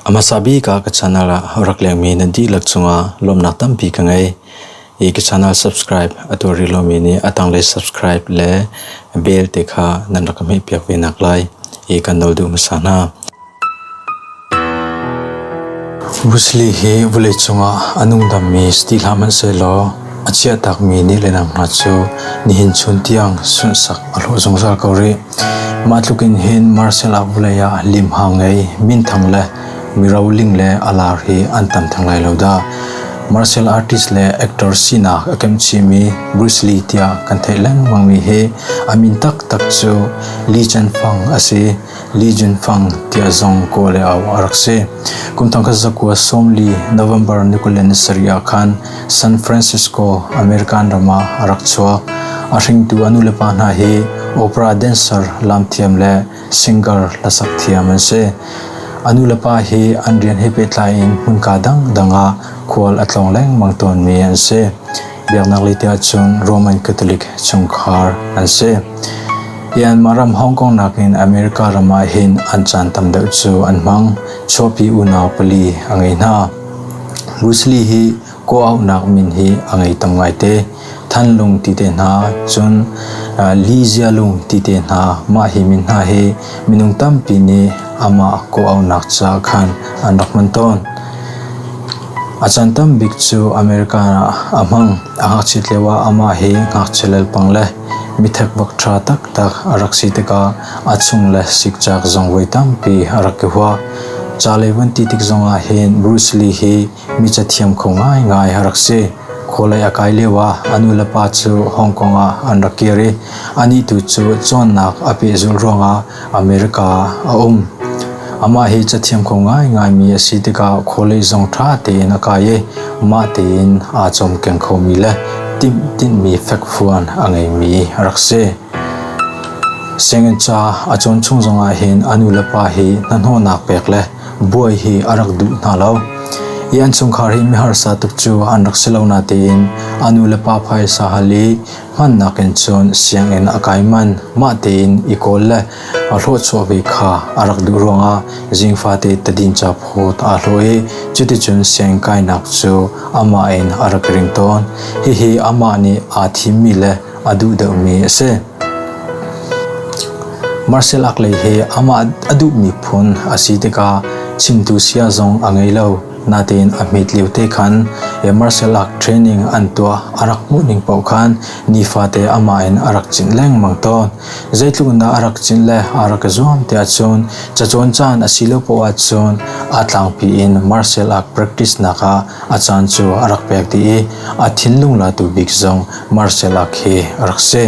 A hmasa bik ah ka channel ah rak lengmi nan dihlak cungah lawmnak tampi ka ngei. I ka channel subscribe a tuari lomi nih a tanglei subscribe le bell te kha nan rak ka hmehpiak ve nak lai i kan dol duh hmasa hna. Musli hi vawleicung ah a nungdammi satihlam an si law a chiahtakmi nih le nang hna cu nihin chun tiang sunsak a hlawh zungzal ko rih. Mah tluk in hin martial art vawlei ah limhang ngei minthang le miroling le alar hi an tam theng lai lo dah. Martial artist le actor sinak a kem chihmi Bruce Lee tiah kan theih lengmangmi hi a min taktak cu Lee Chen Fang a si. Li Junfang tiah zong kawl e au a rak si. Kumthang khat zakua sawmli November nikulen sarih ah khan San Francisco, American ram ah a rak chuak. A hringtu anu le pa hna hi opera dancer lam thiam le singer lasak thiam an si. Anu le pa hi an rian he pehtlai in hmunka dangdang ah khual a tlawng lengmang tawnmi an si. Biaknak lite ahcun Roman Catholic chungkhar an si. Myanmar ram Hong Kong nakin America ram ah hin an caan tam deuh cu an hmang. Chuapi unau pali a ngei hna. Bruce hi kuaunak min hi a ngei tam ngaite. Thanlung ti te hna cun Li Jialung ti te hna mah hi min hna hi minung tampi nih amah kuaunak ca khan an rak hman tawn. A can tam bik cu American ah a hmang, a ngakchiat lioah amah hi ngakchia lelpang le mi thekbak ṭha taktak a rak si tikah a chung le sikcak zong voi tampi a rak i hua. Ca lei van ti tik zongah hin Bruce Lee hi mi cathiam kho ngaingai a rak si. Khualei a kai lioah a nu le pa cu Hong Kong ah an rak kir i anih tu cu cawnnak a pehzulh ruangah America a um. Amah hi cathiam kho ngaingaimi a si tikah khualei zong ṭha tein a kai i mah tein aa cawmkeng khomi le timhtinhmi fekfuan a ngeimi a rak si. Sianginn ca a cawn chung zongah hin a nulepa hi hnahnawhnak pek le buai hi a rak duh hna lo. I an chungkhar hi miharsa tuk cu an rak si lo natein a nulepa phaisa hal i Hmannak in cun sianginn a kai manh, mah tein i kawl le a hluahchuahvi kha a rak duh ruangah zing fate tadin caphut aa hlawh i cuticun sianginn kainak cu amah in a rak ring tawn. Hihi amah nih aa thimmi le a duh deuhmi a si. Marcel Ackley hi amah a duhmi phun a si tikah chimtu saya zong a ngei lo. Nain a hmet lio te khan martial art training an tuah a rak hmuh ning paoh khan nifate amah in a rak chinh lengmang tawn. Zeitluk na a rak chinh le a rak zuam te ahcun cacawn caan a si lo poh ahcun a tlangpi in martial art practice nak ah a caan cu a rak pek dih i a thinlung la tu bik zong martial art hi a rak si.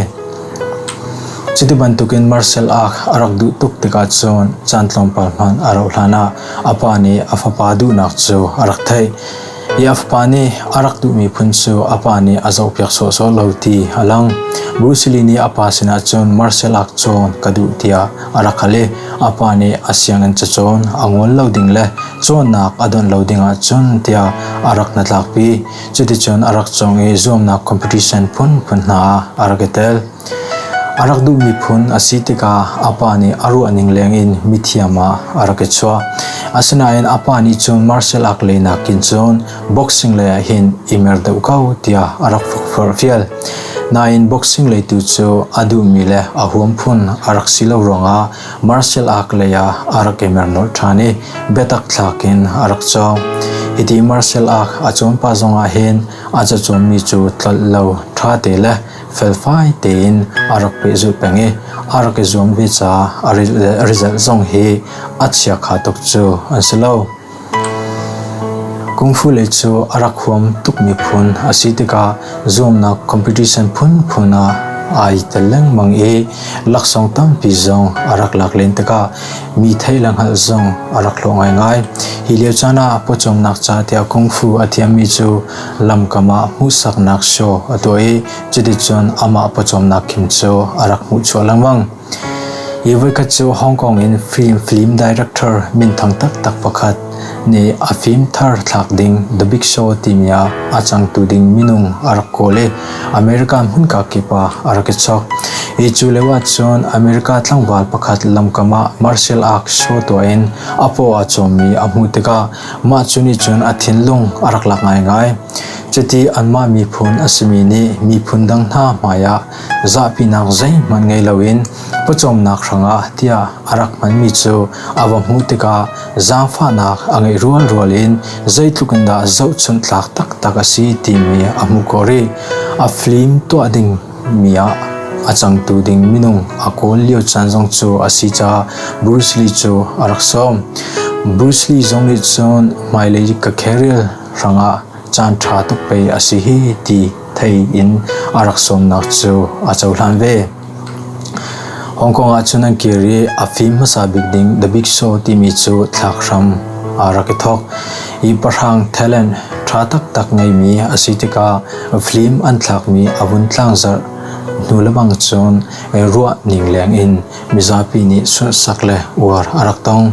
Cuti bantukin Marcel a rak duh tuk tikah cun caan tlawmpal hmanh a rauh hlanah a pa nih a fapa duhnak cu a rak theih i a fapa nih a rak duhmi phun cu a pa nih a zohpiak sawhsawh lo ti a lang. Bruce Lee nih a pa sinah cun Marcel ak cawn ka duh tiah a rak hal i a pa nih a sianginn cacawn a ngol lo ding le cawnnak a donh lo ding ahcun tiah a rak hnatlakpi. Cuticun a rak cawng i zuamnak competition phunphun hna ah a rak i tel. A rak duhmi phun a si tikah a pa nih a ruahning lengin mithiam ah a rak i chuah. Asinain a pa nih cun martial art lei nakin cun boxing lei ah hin i mer deuh ko tiah a rak forhfial. Nain boxing lei tu cu a duhmi le a huam phun a rak si lo ruangah Martial ark lei ah a rak i mer nolh ṭhan i biatak thlak in a rak cawng. Hiti Martial ark a cuanpa zong ah hin a cacuanmi cu tlolh lo, ṭha te le felfai tein a rak pehzulh peng i a rak i zuam ve caah a rilzet zong hi a chiakha tuk cu an si lo. Kungfu lei cu a rak huam tukmi phun a si tikah zuamnak competition phunphun ah ai tel lengmang i laksawng tampi zong a rak lak len tikah mi thei le hngalh zong a rak hlawh ngaingai. Hi lio caan ah pawcawmnak ca tiah kungfu a thiammi cu lamkam ah hmuhsaknak show a tuah i cuticun amah pawcawmnak kim cu a rak hmuh chuah lengmang. Hi voikhat cu Hong Kong in film director minthang taktak pakhat nih a fim thar thlak ding The Big Show timi ah a cangtu ding minung a rak kawl i America hmunka kip ah a rak i chok. Hi cu lio ahcun America tlangval pakhat lamkam ah martial arts show tuah in a paw a cawmmi a hmuh tikah mah cu nih cun a thinlung a rak lak ngaingai. Cuti anmah miphun a simi nih miphun dang hna hmai ah Zahpinak zeihmanh ngei loin pawcawmnak hrangah tiah a rak hmanmi cu a va hmuh tikah zaangfahnak a ngeih rualrual in zeitluk in dah zohchunh tlak taktak a si timi a hmuh ko rih. A flim tuah dingmi ah a cangtu ding minung a kawl lio caan zong cu a si caah Bruce Lee cu a rak sawm. Bruce Lee zong nih cun hmailei ka career hrangah caan ṭha tuk pei a si hi ti thei in a rak sawmnak cu a cohlan ve. Hong Kong ahcun an kir i a fim hmasa bik ding The Big Show timi cu thlak hram ah rak i thawk i pahrang talent ṭha taktak ngeimi a si tikah film an thlakmi a vun tlangzarh hnu lebang cun ruah ning leng in mizapi nih sunhsak le uar a rak tong.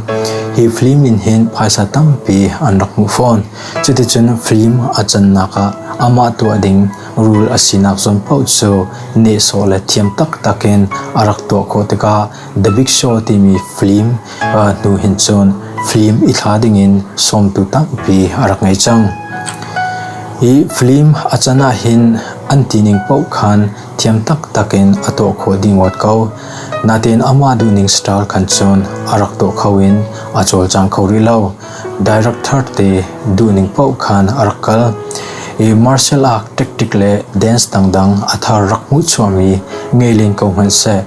Hi film in hin phaisa tampi an rak hmuh fawn. Cuticun film a cannak ah amah tuah ding rul a sinak zawn paoh cu nehsawh le thiam taktak in a rak tuah khawh tikah The Big Show timi film hnu hin cun film i thla dingin sawmtu tampi a rak ngei cang. Hi film a can ahhin an tining paoh khan thiam taktak in a tuah khawh ding ngawt ko. Nain amah duhning star khan cun a rak tuah kho in a cawlcang kho rih lo. Director te duhning paoh khan a rak kal i martial art tactic le dance dangdang a thar rak hmuh chuahmi ngei len ko hmanhseh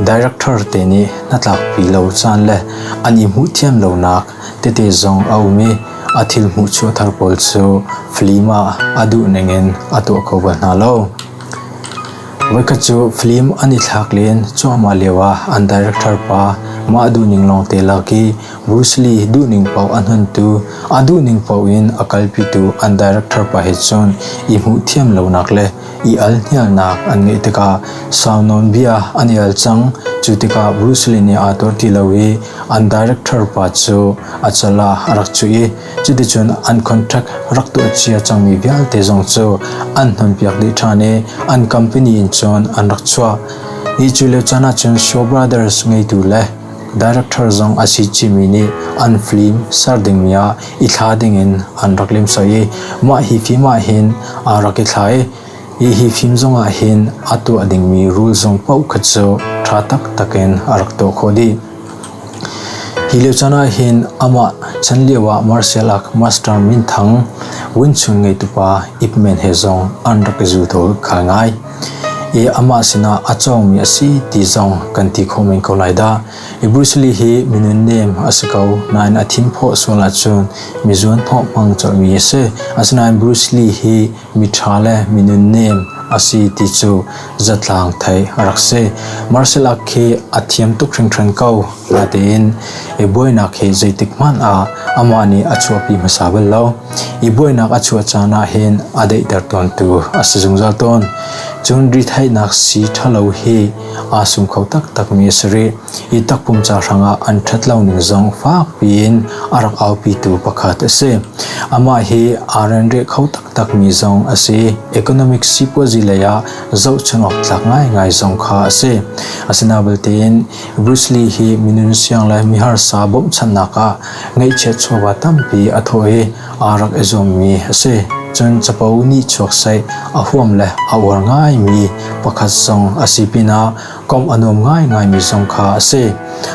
director te nih hnatlakpi lo caan le an i hmuh thiam lonak tete zong a um i a thil hmuh chuah thar pawl cu film ah a duhning in a tuah kho bal hna lo. Voikhat cu film an i thlak len cuahmah lioah an director pa mah duhning lawngte lak i Bruce Lee duhning paoh a hnontu, a duhning paoh in a kalpitu an director pa he cun i hmuhthiam lonak le i alhnialnak an ngeih tikah sau nawnbia an i al cang. Cu tikah Bruce Lee nih aa tuar ti lo i an director pa cu acal ah a rak cuh i cuticun an contract rak tuah cia cangmi vialte zong cu an hnonpiak dih ṭhan i an company in cun an rak chuah. Hi cu lio caan ahcun Shaw Brothers ngeitu le Director zong a si timi nih an film ser dingmi ah i thla dingin an rak limsoi i mah hi film ahhin aa rak i thla i hi film zongah hin a tuah dingmi rule zong paohkhat cu ṭha taktak in a rak tuah khawh dih. Hi lio caan ahhin amah chan lio ah martial arts master minthang Win Chun ngeitu pa Ip Men he zong an rak i zul tawl khai ngai. i amah sinah a cawngmi a si ti zong kan ti kho men ko lai dah. I Bruce Lee hi minunnem a si ko nain a thimphawh sual ahcun mi zuanhnawh hmang colhmi a si. Asinain Bruce Lee hi miṭha le minunnem a si ti cu zatlang theih a rak si. Martial art khi a thiam tuk hringhran ko natein i buainak hi zeitik hmanh ah amah nih a chuahpi hmasa bal lo. i buainak a chuah caan ahhin a daihter tawntu a si zungzal tawn. Cun retheihnak si ṭhalo hi aa sum kho taktakmi a si rih i takpum ca hrangah an ṭhat lo ning zong fakpi in a rak aupitu pakhat a si. Amah hi aa renreh kho taktakmi zong a si. Economic sipuazi leiah zohchunh awk tlak ngaingai zong kha a si. Asinain tein Bruce Lee hi mi nunsiang le miharsa bawmhchanhnak ah ngaihchiat chuahva tampi a thawh i aa rak i zuammi a si. Cun capo nih chuaksaih a huam le a uar ngaimi pakhat zong a si pinah komh a nuam ngaingaimi zong kha a si.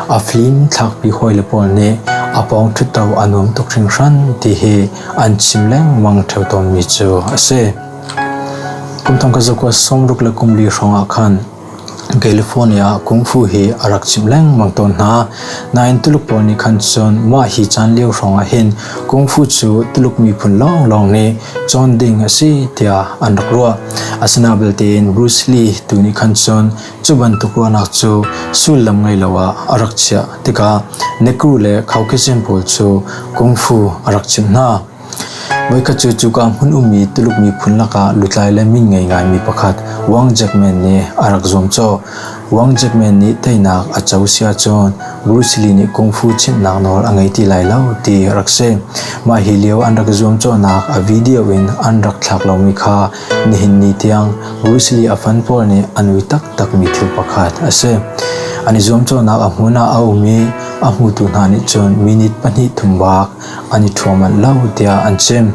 A fim thlakpi hawile pawl nih a pawng ṭhutto a nuam tuk hringhran ti hi an chim lengmang ṭheo tawnmi cu a si. Kum thong ka zakua sawm ruk le kum li hrawng ah khan California ah kungfu hi a rak chimh lengmang tawn hna. Nain Tuluk pawl nih khan cun mah hi caan lio hrawng ah hin kungfu cu Tuluk miphun lawnglawng nih cawn ding a si tiah an rak ruah. Asinain belte Bruce Lee tu nih khan cun cu bantuk ruahnak cu sullam ngei lo ah a rak chiah tikah necro le Caucasian pawl cu kungfu a rak chimh hna. Voikhat cu cuka hmun ummi Tuluk miphun lakah lutlai le min ngei ngaimi pakhat Wang Jackman nih a rak zuamcawh. Wang Jackman nih teinak a co si ahcun Bruce Lee nih kungfu chimhnak nawl a ngei ti lai lo ti rak si. Mah hi lio an rak zuamcawhnak a video in an rak thlak lomi kha nihin ni tiang Bruce Lee a fan pawl nih an ui taktakmi thil pakhat a si. An i zuamcawhnak a hmun ah a um i a hmutu hna nih cun minute pahnih thum bak an i thuam manh lo tiah an chim.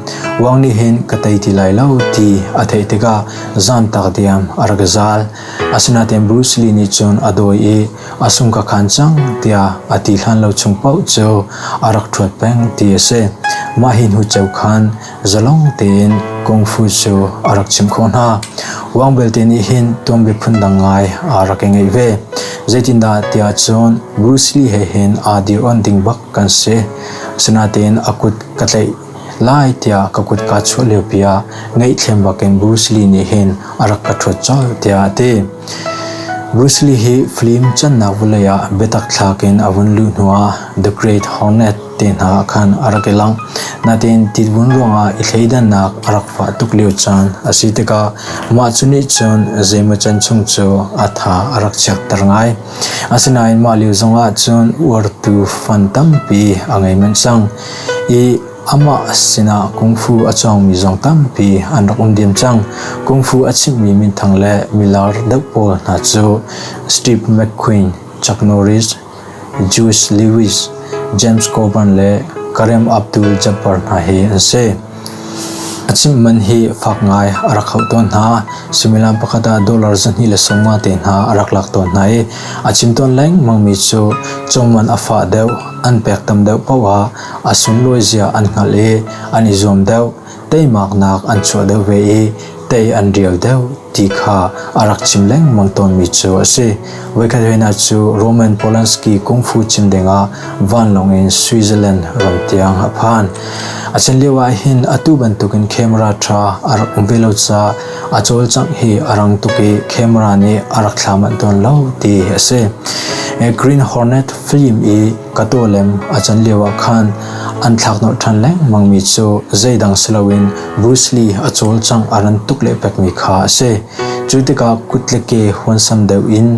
Wang nih hin ka tei ti lai lo ti a theih tikah zantak diam a rak zal. Asinain Bruce Lee nih cun a dawi i a sung ka khan cang tiah a ti hlan lo chung paoh cu a rak thuat peng ti a si. Mah hi hnu cheu khan Zalong tein kung fu cu a rak chimh khawh hna. Wang belte nih hin tuanbia phundang ngai aa rak i ngeih ve. Zeitindah tiah cun Bruce Lee he hin aa dir on ding bak kan si. Asinain a kut ka tlaih lai tiah ka kut kaa chuah liopi ah ngaihthlem bakin Bruce Lee nih hin a rak ka ṭhuat colh tiah a ti. Bruce Lee hi film cannak vawlei ah biatak thlakin a vun luh hnuah The Great Hornet te hna ah khan a rak i lang. Nain titvun ruangah i thleidannak a rak fah tuk lio caan a si tikah mah cu nih cun zeimawcan chung cu a tha a rak chiatter ngai. Asinain mah lio zongah cun uartu fan tampi a ngei manh cang i amah sinah kungfu a cawngmi zong tampi an rak um diam cang. Kungfu a chimhmi minthang le milar deuh pawl hna cu Steve McQueen, Chuck Norris, Jewish Lewis, James Coburn le Karim Abdul-Jabbar hna hi an si. A chimh man hi fak ngai a rak hauh tawn hna. Suimilam pakhat ah dollar zahnih le sawmnga te hna a rak lak tawn hna i a chim tawn lengmangmi cu cungman a fah deuh, an pek tam deuh paoh ah a sunlawi zia an hngalh i an i zuam deuh. teimaknak an chuah deuh ve i tei an rial deuh ti kha a rak chim lengmang tawnmi cu a si. Voikhat hihna cu Roman Polanski kungfu chim dingah vanlawng in Switzerland ram tiang a phan. A chan lio ah hin atu bantukin camera ṭha a rak um ve lo caah a cawlcangh hi a rang tuk i camera nih a rak thla manh tawn lo ti a si. Green Hornet film i ka tawlem a can lioah khan an thlaknawh ṭhan lengmangmi cu zeidang si loin Bruce Lee a cawlcangh a ran tuk lehpekmi kha a si. Cu tikah kut le ke huansam deuh in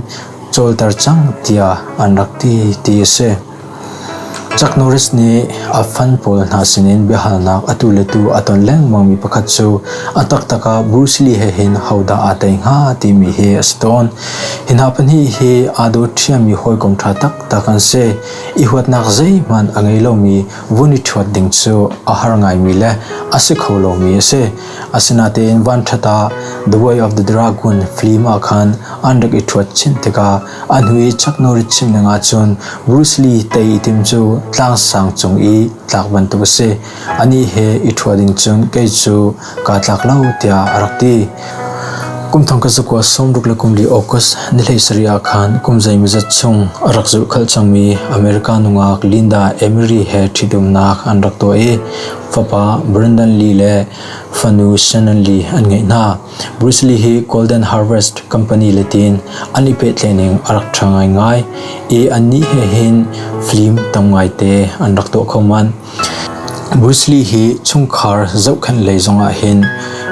cawlter cang tiah an rak ti ti a si. Chuck Norris nih a fan pawl hna sinin biahalnak atu le tu a ton lengmangmi pakhat cu a taktak ah Bruce Lee he hin hodah aa tei hnga timi hi a si tawn. Hi hna pahnih hi aa dawt ṭhiammi hawikom ṭha tak kan si i huatnak zeihmanh a ngei lomi vun i ṭhuat ding cu a har ngaimi le a si kho lomi a si. Asinain vanṭhat ah The Way of the Dragon film ah khan an rak i ṭhuat chin tikah a hnu i Chuck chim ning ahcun Bruce Lee tei i tim cu tlangsang cung i tlak bantuk a si. Anih he i ṭhuat ding cun kei cu kaa tlak lo tiah a rak ti. Kumthong ka zakua sawmruk le kumli August ni hlei sarih ah khan kum zeimazat chung a rak zulh khalh cangmi America nungak Linda Emery he ṭhitumnak an rak tuah i fapa Brandon Lee le fanu Shannon Lee an ngeih hna. Bruce Lee hi Golden Harvest Company letin an i pehtlening a rak ṭha ngaingai i annih he hin film tam ngaite an rak tuah kho manh. Bruce Lee hi chungkhar zohkhenh lei zongah hin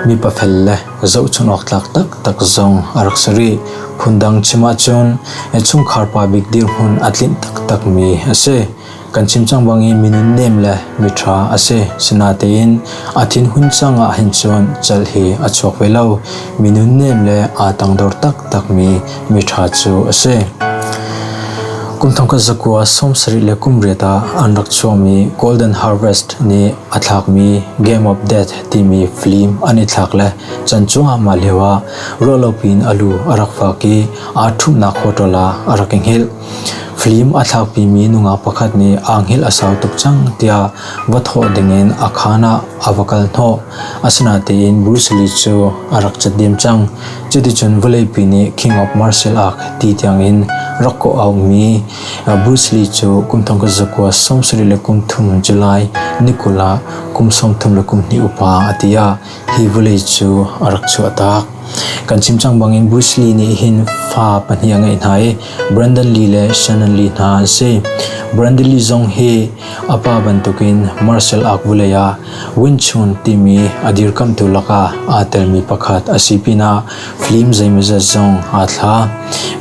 mipa fel le zohchunh awk tlak taktak zong a rak si rih. Phundang chim ahcun chungkhar pa bik dirhmun a tlinh taktakmi a si. Kan chim cang bang i mi nunnem le miṭha a si. Sinatein a thinhun cang ah hin cun celh hi a chuak ve lo. Mi nunnem le aa tangdor taktakmi miṭha cu a si. Kum thongkhat zakua sawmsarih le kum riat ah an rak chuahmi Golden Harvest nih a thlakmi Game of Death timi film an i thlak le can cuahmah lioah ruahlopi in a lu a rak fak i aa ṭhumhnak hotel ah a rak i hngilh. Hlim a thlakpimi nungak pakhat nih aanghilh a sau tuk cang tiah va thawh dingin a khaan ah a va kal hnawh. Asinain Bruce Lee cu a rak cat diam cang. Cuticun vawleipi nih King of Martial Art ti tiangin rak kawh a ummi Bruce Lee cu kum thongkhat zakua sawmsarih le kum thum cu lai ni kul ah kum sawmthum le kum hnih upa a ti ah hi vawlei cu a rak chuahtak. Kan chim cang bangin Bruce Lee nih hin fa pahnih a ngeih hna i Brandon Lee le Shannon Lee hna an si. Brandon Lee zong hi a pa bantukin martial art vawlei ah Wing Chun timi a dirkamhtu lakah aa telmi pakhat a si pinah film zeimawzat zong aa thla.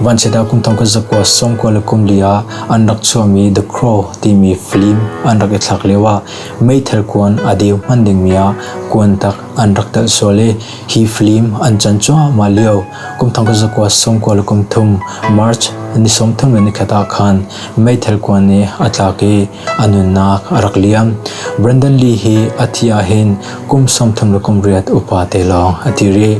Vanchiatah kum thong khat zakua sawmkua le kum li ah an rak chuahmi The Crow timi film an rak i thlak lioah Meithal kuan a deu hman dingmi ah kuan tak an rak telh sual i hi flim an can cuahmah lio kum thong kul zakua sawmkua le kum thum March ni sawmthum le nikhat ah khan meithal kuan nih a tlak i a nunnak a rak liam. Brandon Lee hi a thi ahhin kum sawmthum le kum riat upate lawng a ti rih.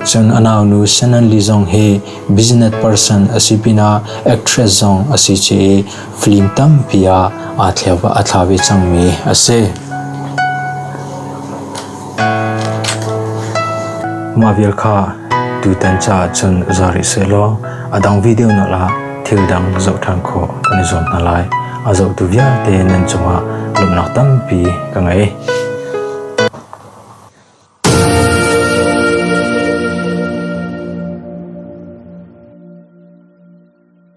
Cun a naunu Shannon Lee zong hi business person a si pinah actress zong a si chih i Flim tampi ah aa thla ve cangmi a si. Mah vial kha tutan caah cun za rih sehlaw a dang video na la thil dang zoh ṭhan khawh kan i zuam hna lai. A zohtu vialte nan cungah lawmhnak tampi ka ngei.